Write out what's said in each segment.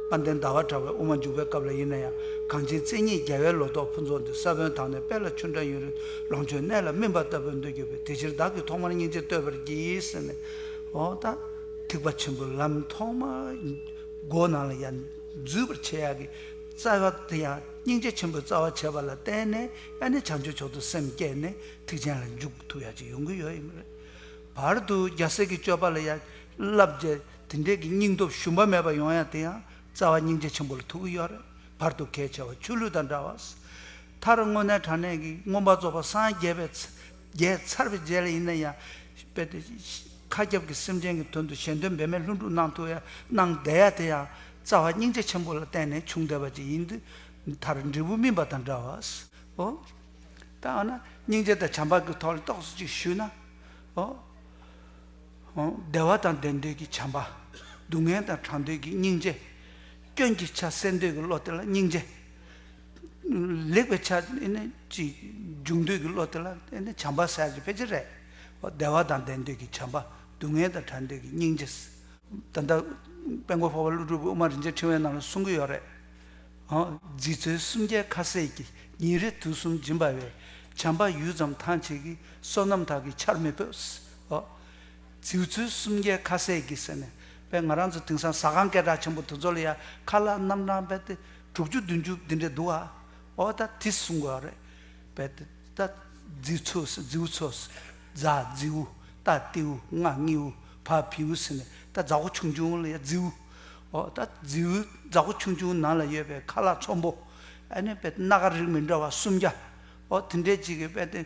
བ་འདི་ཟླ་བ་གྲགས་པའི་དབུ་མ་འཇུག་པའི་སྐབས་ལ་ཡིན་ན་ཡང་གངས་ཅན་བཙན་གཉིས་རྒྱལ་བའི་ལོ་ཏོག་ཕུན་ཚོགས་འདི་ས་བོན་དག་ནས་དཔལ་ལ་ཆུ་འདྲ་ཡུན་རིང་ལོངས་སྤྱོད་གནས་ལ་སྨིན་པ་ལྟ་བུར་འདོད་གྱུར་པས་དེ་ཕྱིར་བདག་གིས་ཐོག་མར་སྙིང་རྗེ་བསྟོད་པར་བགྱི་ཟེར་ནས། འོ་ད། ཐེག་པ་ཆེན་པོའི་ལམ་ཐོག་མར། སྒོ་ནང་ལ་ཡང་འཛུད་པར་བྱེད་ཡ་གི། རྩ་བ་འདི་ཡང་སྙིང་རྗེ་ཆེན་པོའི་རྩ་བ་བྱེད་པ་ལ་བརྟེན་ནས་ཡ་ནི་བྱང་ཆུབ་མཆོག་ཏུ་སེམས་བསྐྱེད་ནས་ཐེག་ཆེན་ལ་འཇུག་ཐུབ་ཡ་གཅིག་ཡོང་གི་ཡོད་ཡིན་པ་རེད། བར་དུ་རྒྱ་སེ་གི་སྤྱོད་པ་ལ་ཡ། བསླབ་བྱ་དེ་འདྲས་ཀྱི་སྙིང་སྟོབས་ཞུམ་པ་མེད་པར་ཡོང་ཡང་དེ་ཡང་རྩ་བ་སྙིང་རྗེ་ཆེན་པོ་ལ་ཐུག་གི་ཡོད་རེད་བར་དུ་གལ་ཆེ་བ་ཆུ་ལུད་དང་འདྲ་བ། མཐར་དངོས་གནས་དྲང་གནས་ཀྱི་མངོན་པ་རྫོགས་པ་སངས་རྒྱས་པའི་རྒྱལ་མཚར་བའི་རྗེས་ལ་ཡིན་ན་ཡང་དཔེ་དེ་མཁའ་ཁྱབ་ཀྱི་སེམས་ཅན་གྱི་དོན་དུ་གཞན་དོན་འབད་མེད་ལྷུན་གྲུབ་གནང་ཐུབ་ཡ་གནང་བསྡད་ཡ་དེ་ཡང་རྩ་བ་སྙིང་རྗེ་ཆེན་པོ་ལ་བརྟེན་ནས་བྱུང་བསྡད་པ་ཅིག་ཡིན་དུས་མཐར་འབྲས་བུ་སྨིན་པ་དང་འདྲ་བ། ཨོ། ད་འོ་ན་སྙིང་རྗེ་དང་བྱམས་པ་གི་ཐོག་ལ་རྟོགས་སོ་ཅིག་ཞུས་ན། ཨོ། བདེ་བ་དང་ལྡན་འདོད་ཀྱི་བྱམས་པ། སྡུག་བསྔལ་དང་གྲགས་འདོད་ཀྱི་སྙིང་རྗེ། སྐྱོན་གྱི་ཆ་སེལ་འདོད་ཀྱི་བློ་དེ་ལ་སྙིང་རྗེ། ལེགས་པའི་ཆ་སྦྱོང་འདོད་ཀྱི་བློ་དེ་ལ་བྱམས་པ་ཟེར་གྱི་ཕལ་ཆེར་རེད། བདེ་བ་དང་ལྡན་འདོད་ཀྱི་བྱམས་པ། སྡུག་བསྔལ་དང་གྲགས་འདོད་ཀྱི་སྙིང་རྗེ། ད་ལྟ་དཔལ་མགོན་འཕགས་པ་ཀླུ་སྒྲུབ་དབུ་མ་རིན་ཆེན་ཕྲེང་བའི་ནང་ལ་གསུང་གི་ཡོད་རེད། རྗེ་བཙུན་སུམ་བརྒྱའི་ཁ་ཟས་ཀྱིས་ཉིན་རེ་དུས་གསུམ་སྦྱིན་པ་བས། བྱམས་པ་ཡུད་ཙམ་ཐང་ཆད་ཀྱི་བསོད་ནམས་དག་གིས་ཆར་མི་ཕོད། ཨོ། རྫིའུ་ཚོའི་སུམ་བརྒྱའི་ཁ་ཟས་ཀྱི་ཟེར་ནས་པས་ང་རང་ཚོ་དེང་སང་ཟ་ཁང་སྐད་གྲགས་ཆེན་པོ་དེ་ཚོ་ལ་ཡང་ཁ་ལག་རྣམ་གྲངས་པས་ཏེ་དྲུག་ཅུ་བདུན་ཅུ་དེ་འདྲས་འདུག་ཨ། ཨོ་ད་དེ་གསུང་དགོས་ཨ་རེད། པས་ཏེ། ད། རྫིའུ་ཚོ་ཟེར་རྫིའུ་ཚོ། རྫ་རྫིའུ། ཏཱ་ཏེའུ། ང་ངེའུ། བ་བེའུ་ཟེར་ནས་ད་རྫ་ཧོ་ཆུང་ཆུང་ལ་ཡང་རྫིའུ། ཨོ་ད་རྫིའུ། རྫ་ཧོ་ཆུང་ཆུང་ནང་ལ་ཡོད་པའི་ཁ་ལག་ཚོམ་བུ། ཨ་ནི་པས་ཏེ་སྣ་ཁ་རིགས་མི་འདྲ་བ་སུམ་བརྒྱ། ཨོ་དེ་འདྲས་ཅིག་གིས་པས་ཏེ།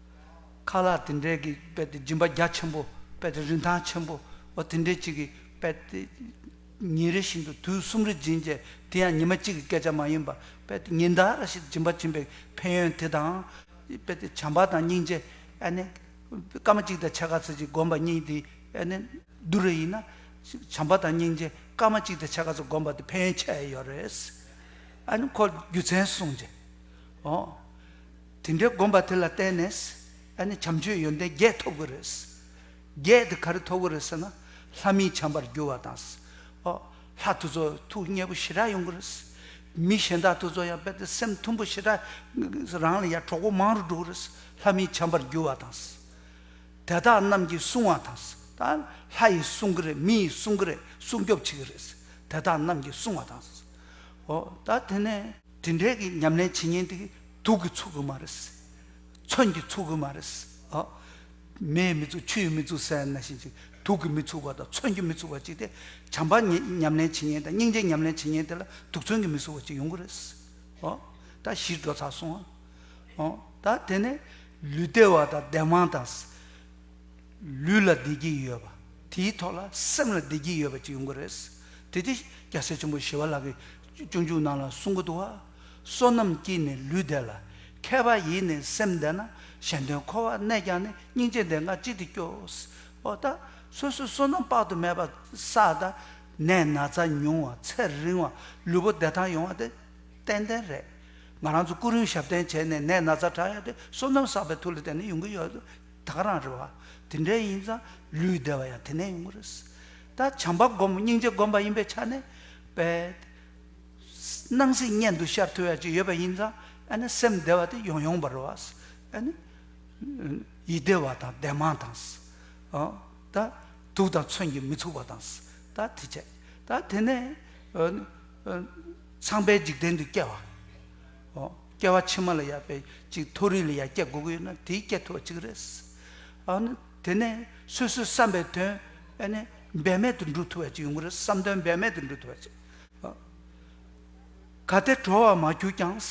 ཁ་ལག་དེ་འདྲས་ཀྱི་དཔེ་དེ་སྦྱིན་པ་རྒྱ་ཆེན་པོ་དཔེ་དེ་རིན་ཐང་ཆེན་པོ་འོ་དེ་འདྲས་ཅིག་གི་དཔེ་དེ། ཉིན་རེ་བཞིན་དུ་དུས་གསུམ་རེ་སྦྱིན་རྗེས་དེ་ཡང་ཉི་མ་གཅིག་གི་སྐད་ཆ་མ་ཡིན་པར་དཔེ་དེ་ཉིན་ཟླ་རེ་བཞིན་སྦྱིན་པ་བྱིན་པའི་ཕན་ཡོན་དེ་དང། དཔེ་དེ་བྱམས་པ་དང་སྙིང་རྗེ། ཨ་ནི། སྐར་མ་གཅིག་དང་ཕྱེད་ཀ་ཚུན་གྱི་བསྒོམ་པ་གཉིས་དེ་ཨ་ནི། བསྡུར་རེ་ཡིན་ན། བྱམས་པ་དང་སྙིང་རྗེ་སྐར་མ་གཅིག་དང་ཕྱེད་ཀ་ཚུན་བསྒོམ་པ་དེ་ཕན་ཡོན་ཆེ་ཡོད་རེད། ཨ་ནི་ཁོ་རྒྱུ་མཚན་གསུངས་རྗེས། འོ། དེ་འདྲའི་དགོན་པ་དེ་ལ་བརྟེན་ནས་ཨ་ནི་བྱམས་ཆོས་ཡོན་ཏན་བརྒྱད་ཐོབ་ཀྱི་རེད། བརྒྱད་དེ་ག་རེ་ཐོབ་ཀྱི་རེད་ཟེར་ན་ལྷ་མིའི་བྱམས་པར་འགྱུར་བ་དང། ལྷ་ཐུ་ཚོགས་ཐུགས་མཉེས་པོ་ཞེ་དྲག་ཡོང་གི་རེད། མི་གཞན་དག་ཐུ་ཚོགས་ཡང་དཔེ་ལྟ་སེམས་མཐུན་པོ་ཞེ་དྲག་རང་ལ་ཡང་གྲོགས་པོ་མང་རུ་འགྲོ་གི་རེད་ལྷ་མིའི་བྱམས་པར་འགྱུར་བ་དང། དེ་དག་རྣམས་ཀྱིས་བསྲུང་བ་དང། ད་ལྷ་ཡིས་བསྲུང་གི་རེད་མི་ཡིས་བསྲུང་གི་རེད་སྲུང་སྐྱོབ་བྱེད་ཀྱི་རེད། དེ་དག་རྣམས་ཀྱིས་བསྲུང་བ་དང། ད་དེ་ནས། དེ་འདྲའི་གི་ཉམས་ལེན་བྱེད་ཉེན་དེ་དུག་གི་ཚུགས་ཀྱི་མ་རེད། མཚོན་གྱི་ཚུགས་ཀྱི་མ་རེད། མེའི་མི་ཚུགས་ཆུའི་མི་ཚུགས་སའི་ན་བཞིན་ཅིག་དུག་གི་མི་ཚུགས་པ་དང་མཚོན་གྱི་མི་ཚུགས་པ་ཅིག་དེ་བྱམས་པ་ཉམས་ལེན་བྱེད་ཉེན་དང་སྙིང་རྗེ་ཉམས་ལེན་བྱེད་ཉེན་དེ་ལ་དུག་མཚོན་གྱི་མི་ཚུགས་པ་ཅིག་ཡོང་གི་རེད། ད་གཞིས་འགྲོ་ཚར་སོང་ཨ། ད་དེ་ནས་ལུས་བདེ་བ་དང་བདེ་དབང་དང། ལུས་ལ་བདེ་སྐྱིད་ཡོད་པ་དེའི་ཐོག་ལ་སེམས་ལ་བདེ་སྐྱིད་ཡོད་པ་ཅིག་ཡོང་གི་རེད། དེ་དེ་སྐྱ་སེར་ཆེན་པོ་ཞི་བ་ལགས་ཀྱི། སྤྱོད་འཇུག་རྣམས་ལ་བསྲུང་གི་འདུག། བསོད་ནམས་ཀྱིས་ནི་ལུས་བདེ་ལ། མཁས་པ་ཡིས་ནི་སེམས་བདེ་ན། གཞན་དོན་འཁོར་བར་གནས་ཀྱང་ནི་སྙིང་རྗེ་འདི་འགའ་ཅི་སྟེ་སྐྱོ། ཨོ་ད། སོ་སོའི་བསོད་ནམས་དཔག་ཏུ་མེད་པ་བསགས། ད་ནས་ན་ཚ་ཉུང་བ་ཚེ་རིང་བ་ལུས་པོ་བདེ་ཐང་ཡོང་བ་དེ་ཏན་ཏན་རེད། ང་རང་ཚོ་ཀུན་རིང་ཞབས་བརྟན་བྱས་ནས་ནད་ན་ཚ་དྲག་ཡོད་དེ་བསོད་ནམས་བསགས་པའི་མཐུ་ལས་དེ་ནས་ཡོང་གི་ཡོད། ད་ག་རང་རེད་བ། དེ་འདྲའི་ཡིན་ཙང་ལུས་བདེ་བ་ཡང་དེ་ནས་ཡོང་གི་རེད། ད་བྱམས་པ་སྒོམ་སྙིང་རྗེ་སྒོམ་པ་ཡིན་པའི་ཆ་ནས། པས། སྣང་སྲིད་གཉེན་དུ་ཤར་ཐུལ་བ་ཅིག་ཡོད་པ་ཡིན་ཙང་སེམས་བདེ་བ་དེ་ཡོང་ཡོང་བར་རོ། ཡིད་བདེ་བ་དང་བདེ་མང་དང། དུག་དང་མཚོན་གྱིས་མི་ཚུགས་པ་དང། དེ་བྱས། དེ་ནས། ཚངས་པའི་འཇིག་རྟེན་དུ་སྐྱེ་བ། སྐྱེ་བ་ཕྱི་མ་ལ་ཡག་པས་ཅིག་མཐོ་རིས་ལ་ཡར་སྐྱེ་དགོས་ཀྱི་ཡོད་ན་དེའི་སྐྱེ་ཐུབ་པ་ཅིག་རེད། དེ་ནས་སོ་སོའི་བསམ་པའི་དོན་འབད་མེད་དུ་འགྲུབ་ཐུབ་པ་ཅིག་ཡོང་གི་རེད་བསམ་དོན་འབད་མེད་དུ་འགྲུབ་ཐུབ་པ་ཅིག། གལ་ཏེ་གྲོལ་བར་མ་གྱུར་ཀྱང། བྱམས་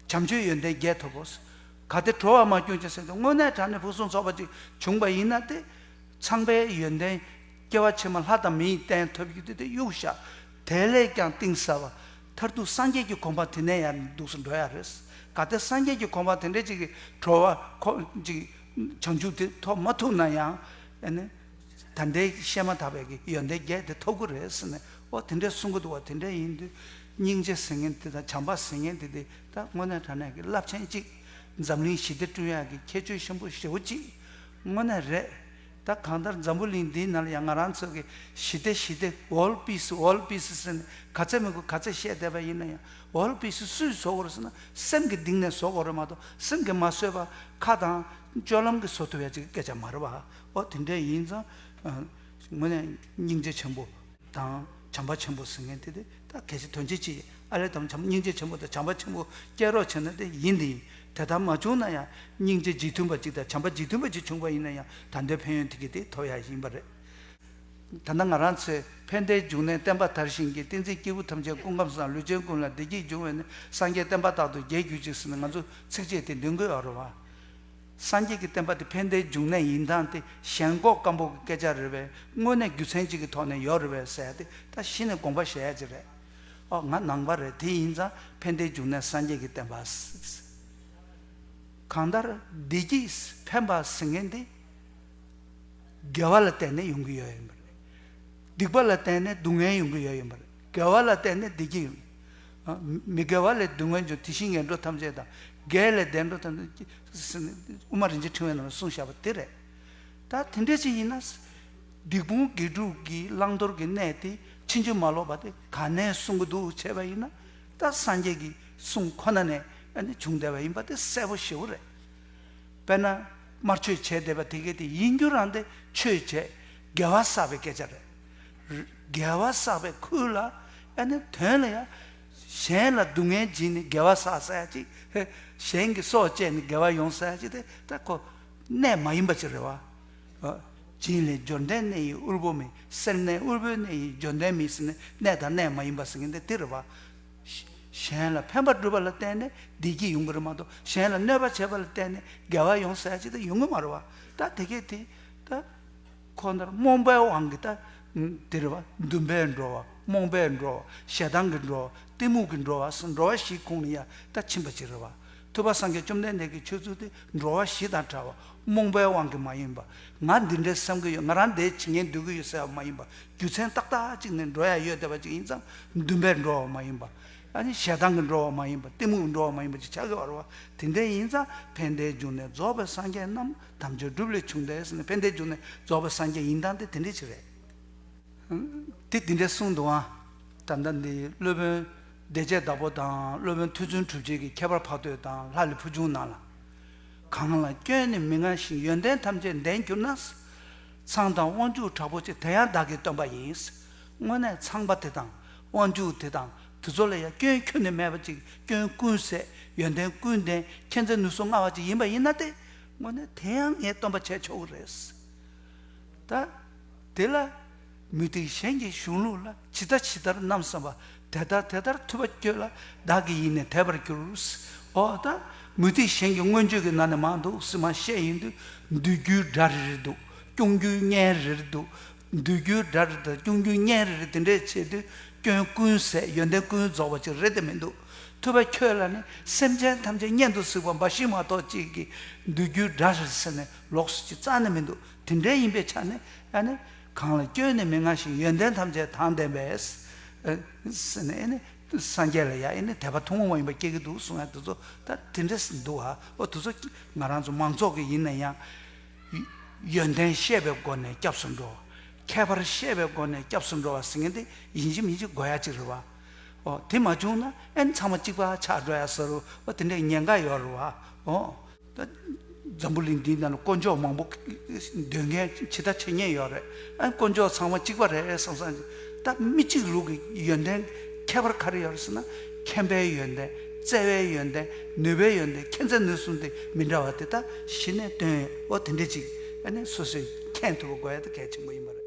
ཆོས་ཡོན་ཏན་བརྒྱད་ཐོབ་བོ། གལ་ཏེ་གྲོལ་བར་མ་གྱུར་ཀྱང་སེམས་ཀྱི་དངོས་གནས་དྲང་ནས་ཕུན་སུམ་ཚོགས་པ་ཅིག་བྱུང་བ་ཡིན་ན་དེ་ཚངས་པའི་ཡོན་ཏན། སྐྱེ་བ་ཕྱི་མ་ལྷ་དང་མིའི་རྟེན་ཐོབ་རྒྱུ་དེ་དེ་གཡུག་ཞག་དེ་ལས་ཀྱང་གཏིང་ཟབ་བ། མཐར་ཐུག་སངས་རྒྱས་ཀྱི་གོ་འཕང་དེ་ནས་ཡར་འདུག་སུ་འགྲོ་ཡ་རེད། གལ་ཏེ་སངས་རྒྱས་ཀྱི་གོ་འཕང་དེ་འདྲས་ཅིག་གིས་གྲོལ་བ་ཁོག་ཅིག་བྱང་ཆུབ་དེ་ཐོབ་མ་ཐུབ་ན་ཡང། ད་ལྟའི་བཤད་མ་ཐག་པའི་ཡོན་ཏན་བརྒྱད་དེ་ཐོབ་གི་རེད་ཟེར་ནས་ཨོ་དེ་འདྲའི་གསུང་གི་འདུག་བ་དེ་འདྲའི་ཡིན་དུས། སྙིང་རྗེ་ཟེར་མཁན་དེ་དང་བྱམས་པ་ཟེར་མཁན་དེ་དེ་ད་དངོས་གནས་དྲང་གནས་ཀྱི་རླབས་ཆེན་གཅིག། འཛམ་གླིང་ཞི་བདེ་བསྐྲུན་ཡག་གི་ཁྱད་ཆོས་ཆེན་པོ་བཞི་བོ་གཅིག་དངོས་གནས་རེད། ད་གང་ལྟར་འཛམ་བུ་གླིང་འདིའི་ནང་ལ་ཡང་ང་རང་ཚོ་གི་ཞི་བདེ་ཞི་བདེ World Peace World Peace ཟེར་ནས་ག་ཚད་མི་དགོས་ག་ཚད་བཤད་བསྡད་པ་ཡིན་ན་ཡང World Peace སུས་བཟོ་དགོས་རེད་ཟེར་ན་སེམས་ཀྱི་གདིང་ནས་བཟོ་དགོས་རེད་མ་གཏོགས་སེམས་ཀྱིས་མ་བཟོས་པར་ཁ་དང་སྤྱོད་ལམ་གྱིས་བཟོ་ཐུབ་ཡ་ཅིག་སྐད་ཆ་མ་རེད་བ། ཨོ་དེ་འདྲས་ཡིན་ཙང། ངོ་ནས་སྙིང་རྗེ་ཆེན་པོ། དང། བྱམས་པ་ཆེན་པོ་ཟེར་མཁན་དེ་དེ་ད་གལ་སྲིད་དོན་ཆེན་གཅིག་ཡིན་ཨ་ལས་དམ་བྱམས་སྙིང་རྗེ་ཆེན་པོ་དང་བྱམས་པ་ཆེན་པོ་བསྐྱལ་རོགས་བྱས་ན་དེ་ཡིན་དེ་ཡིན་དེ་ལྟར་མ་བྱུང་ན་ཡང་སྙིང་རྗེ་འཇིགས་མཐུན་པ་གཅིག་དང་བྱམས་པ་འཇིགས་མཐུན་པ་གཅིག་བྱུང་པ་ཡིན་ན་ཡང་ད་ལྟའི་ཕན་ཡོན་དེ་གི་དེ་ཐོབ་ཡག་ཡིན་པ་རེད། ད་ནི་ང་རང་ཚོས་ཕན་བདེའི་འབྱུང་གནས་བསྟན་པ་དར་ཞིང་གི་ཏིང་འཛིན་སྐྱེས་བུ་ཐམས་ཅད་ཀུན་ཁམས་སུ་དང་ལུས་ཅན་ཀུན་ལ་བདེ་སྐྱིད་འབྱུང་བས་ནི་སངས་རྒྱས་བསྟན་པ་རྟག་ཏུ་རྒྱལ་གྱུར་ཅིག་ཟེར་ནས་ང་ཚོ་ཚིགས་བཅད་དེ་འདོན་དགོས་ཨ་རོ་བ། སངས་རྒྱས་ཀྱི་བསྟན་པ་དེ་ཕན་བདེའི་འབྱུང་གནས་ཡིན་ཐང་དེ་ཞེན་ཁོག་སྐམ་པོ་གི་སྐད་ཆ་རེད་བས་དངོས་གནས་རྒྱུ་མཚན་གཅིག་གི་ཐོག་ནས་ཡོད་རེད་བས་ཟེར་ཏེ་ད་གཞི་ནས་དགོངས་པ་བཞེས་ཡ་ཅིག་རེད། ཨོ་ང་ནང་པ་རེད་དེ་ཡིན་ཙང་ཕན་བདེའི་འབྱུང་གནས་སངས་རྒྱས་ཀྱི་བསྟན་པ། གང་ལྟར་བདེ་སྐྱིད་ཕན་པ་ཟེར་མཁན་དེ། དགེ་བ་ལ་བརྟེན་ནས་ཡོང་གི་ཡོད་ཡིན་པ་རེད། སྡིག་པ་ལ་བརྟེན་ནས་སྡུག་བསྔལ་ཡོང་གི་ཡོད་ཡིན་པ་རེད་དགེ་བ་ལ་བརྟེན་ནས་བདེ་སྐྱིད་ཡོང། མི་དགེ་བ་ལས་བདུད་མངོན་འབྱུང་དེ་བཞིན་ངན་འགྲོ་ཐམས་ཅད་དང། དགེ་ལས་བདེ་འགྲོ་ཐམས་ཅད་དབུ་མ་རིན་ཆེན་ཕྲེང་བའི་ནང་ལ་གསུངས་བཞག་པ་དེ་རེད། ད་དེ་འདྲའི་ཕྱིར་ཡིན་ན། སྡིག་སྤོང་དགེ་སྒྲུབ་ཀྱི་བླང་དོར་གྱི་གནད་དེ་ཕྱིན་ཅི་མ་ལོག་པ་དེ་ག་ནས་གསུང་གི་འདུག་བྱས་པ་ཡིན་ན། ད་སངས་རྒྱས་ཀྱི་གསུང་ཁོ་ན་ནས་བྱུང་བསྡད་པ་ཡིན་པ་དེ་གསལ་པོ་ཞེ་བོ་རེད། དཔེར་ན། མར་ཆོས་བྱས་བསྡད་པ་དེ་གས་དེ་ཡིན་རྒྱུ་རང་དེ་ཆོས་བྱས་དགེ་བ་བསགས་པའི་སྐད་ཆ་རེད། རྒྱལ་བ་བསགས་པའི་ཁུར་ལ་ཨེ་ནི་དོན་ལ་ཡ། གཞན་ལ་སྡུག་བསྔལ་སྦྱིན་ནི་རྒྱལ་བ་བསགས་ས་ཡ་གཅིག་ཧེ། གཞན་གྱི་སྲོག་བཅད་ནི་རྒྱལ་བ་ཡོང་ས་ཡ་གཅིག་དེ་ལྟ་ཁོ། གནས་མ་ཡིན་པ་ཅི་རེ་བ། སྦྱིན་ལས་འབྱོར་ལྡན་གནས་ཡིན་དབུལ་པོ་མིན་སེར་སྣའི་དབུལ་པོའི་གནས་ཡིན་འབྱོར་ལྡན་མིན་སེར་སྣའི་གནས་དང་གནས་མ་ཡིན་པ་སེང་གེ་འདི་དེ་རེ་བ། གཞན་ལ་ཕན་པ་བསྒྲུབ་པ་ལ་བརྟེན་ནས་བདེ་སྐྱིད་ཡོང་གི་རེ་མ་གཏོགས་གཞན་ལ་གནོད་པ་བྱེད་པ་ལ་བརྟེན་ནས་རྒྱལ་བ་ཡོང་ས་ཡ་གཅིག་དེ་ཡོང་གི་མ་རེ་བ། ད་དེ་སྐད་དེ་ད། ཁོ་ནར་རྨོངས་པའི་དབང་གིས་ལྟ་འདིར་བ་འདུན་པས་འགྲོ་བ་རྨོངས་པས་འགྲོ་བ་ཞེ་སྡང་གིས་འགྲོ་བ་གཏི་མུག་གིས་འགྲོ་བ་སོགས་འགྲོ་བ་བཞིའི་ཁུངས་ནི་ཡ་ད་ཕྱིན་པ་ཅི་རི་བ་ཐུབ་པ་སངས་རྒྱས་བཅོམ་ལྡན་འདས་ཀྱི་ཆོས་ཚུལ་དེ་འགྲོ་བ་བཞི་དང་བྲལ་བ་རྨོངས་པའི་དབང་གིས་མ་ཡིན་པ་ང་འདི་འདྲའི་བསམ་གྱི་ཡོད་ང་རང་འདའི་ཇི་ངན་འདོད་ཀྱི་ཡོད་ཟེར་བ་མ་ཡིན་པ་རྒྱུ་མཚན་ཏག་ཏག་ཅིག་ནི་འགྲོ་ཡ་ཡོད་བསྡད་པ་ཅིག་ཡིན་ཙང་འདུན་པས་འགྲོ་བ་མ་ཡིན་པ། ཞེ་སྡང་གིས་འགྲོ་བ་མ་ཡིན་པ་གཏི་མུག་གིས་འགྲོ་བ་མ་ཡིན་པ་ཅིག་ཆགས་ཀྱི་བར་བ་དེ་འདྲའི་ཡིན་ཙང་ཕན་བདེའི་རྒྱུ་ནས་རྫོགས་པའི་སངས་རྒྱས་རྣམས་དམ་ཆོས་སྒྲུབ་ལས་བྱུང་སྟེ་ཟེར་ནས་ཕན་བདེའི་རྒྱུ་ནི་རྫོགས་པའི་སངས་རྒྱས་ཡིན་སྟངས་དེ་དེ་འདྲའི་ཆེད་རེད། དེ་དེ་འདྲའི་གསུང་དུའང་ད་ལྟ་འདི་སློབ་དཔོན་བདེ་བྱེད་བདག་པོ་དང་སློབ་དཔོན་ཐུགས་བརྩོན་གྲུབ་རྗེས་ཀྱི་ཁྱད་པར་འཕགས་བསྟོད་དང་ལྷ་ལས་ཕུལ་བྱུང་གནང་ལ། གང་ལ་སྐྱོན་ནི་མི་མངའ་ཞིང་ཡོན་ཏན་ཐམས་ཅད་ལྡན་གྱུར་ན། ཚངས་དང་དབང་ཕྱུག་དྲག་པོ་ཆེ་དེ་ཡང་བདག་གིས་བཏོན་པ་ཡིན། དངོས་གནས་ཚངས་པ་དེ་དང་དབང་ཕྱུག་དེ་དང་དེ་ཚོ་ལ་ཡང་སྐྱོན་ཁྱོད་ནི་མེད་པ་ཅིག་སྐྱོན་ཀུན་ཟད་ཡོན་ཏན་ཀུན་ལྡན་མཁྱེན་བརྩེ་ནུས་གསོ་མངའ་བ་ཅིག་ཡིན་པ་ཡིན་ན་ཏེ། དངོས་ནས་དེ་ཡང་ངས་སྟོན་པ་བྱས་ཆོག་གི་རེད། ད་དེ་ལ་མུ་སྟེགས་གཞན་གྱི་གཞུང་ལུགས་ལ་ཇི་ལྟ་ཇི་ལྟར་རྣམ་བསམ་པ་དེ་ལྟར་དེ་ལྟར་ཐུབ་པ་བསྐྱོད་ལ་བདག་གི་ཡིད་ནས་དད་པར་གྱུར། འོ་ད་མུ་སྟེགས་གཞན་གྱི་མངོན་བརྗོད་ཀྱི་ནང་ནས་མ་འདུག་སྲིད་མ་ཤེས་ཡིན་དུས་འདུལ་རྒྱུའི་སྒྲ་རེ་རེ་འདུག་སྐྱོང་རྒྱུའི་བརྙན་རེ་རེ་འདུག་འདུལ་རྒྱུའི་དགྲ་རེད་དང་སྐྱོང་རྒྱུའི་གཉེན་རེ་རེད་དེ་འདྲས་བྱས་དུས་སྐྱོན་ཀུན་ཟད་ཡོན་ཏན་ཀུན་རྫོགས་པ་ཅིག་རེད་དེ་མི་འདུག་ཐུབ་པ་ཁྱོད་ལ་ནི་སེམས་ཅན་ཐམས་ཅད་གཉེན་དུ་གཟིགས་པ་འབའ་ཞིག་མ་གཏོགས་གཅིག་གིས་འདུལ་རྒྱུའི་དགྲ་རེད་ཟེར་ནས་ལོགས་སུ་ཅི་རྩ་ནས་མི་འདུག་དེ་འདྲས་ཡིན་པའི་ཆ་ནས་ཨ་ནི། གང་ལ་སྐྱོན་ནི་མི་མངའ་ཞིང་ཡོན་ཏན་ཐམས་ཅད་དང་ལྡན་པས། ཟེར་ནས་ཨེ་ནི། སངས་རྒྱས་ལ་ཡང་ཨེ་ནི་དད་པ་ཐུན་མོང་མ་ཡིན་པ་སྐྱེ་གི་འདུག་གསུང་ཡ་དེ་ཚོ་ད་དེ་འདྲས་འདུག་ཨ་འོ་དེ་ཚོ་ང་རང་ཚོ་མང་ཚོགས་ཀྱི་ཡིན་ན་ཡང། ཡོན་ཏན་བཤད་པའི་སྒོ་ནས་སྐྱབས་སུ་འགྲོ། ཁྱད་པར་བཤད་པའི་སྒོ་ནས་སྐྱབས་སུ་འགྲོ་བ་ཟེར་མཁན་དེ་ཡིན་གཅིག་མིན་གཅིག་དགོས་ཡ་གཅིག་རེད་བ། ཨོ། དེ་མ་བྱུང་ན་ཨེན་ཚང་མ་གཅིག་པ་ཆགས་འགྲོ་ཡ་ཟེར་རོ། ཨོ་དེ་འདྲའི་ཉེན་ཁ་ཡོད་རེད་བ། ཨོ། འཛམ་བུ་གླིང་འདིའི་ནང་ལ་དཀོན་མཆོག་མང་པོ་འདོད་མཁན་ཇི་ལྟར་ཆེ་ཉེན་ཡོད་རེད། ཨེན་དཀོན་མཆོག་ཚང་མ་གཅིག་པ་རེད་བསམ་བསམ། ད་མི་གཅིག་ལུགས་ཀྱི་ཡོན་ཏན་ཁྱད་པར་ག་རེ་ཡོད་ཟེར་ན་མཁྱེན་པའི་ཡོན་ཏན་བརྩེ་བའི་ཡོན་ཏན་ནུས་པའི་ཡོན་ཏན་མཁྱེན་བརྩེ་ནུས་གསུམ་དེ་མི་འདྲ་བ་དེ་དག་གཞི་ནས་དོན་ཨོ་དེ་འདྲའི་ཅིག་ཨ་ནི་སོ་སོས་མཁྱེན་ཐུབ་པ་དགོས་ཡ་ད་གལ་ཆེན་པོ་ཡིན་པ་རེད།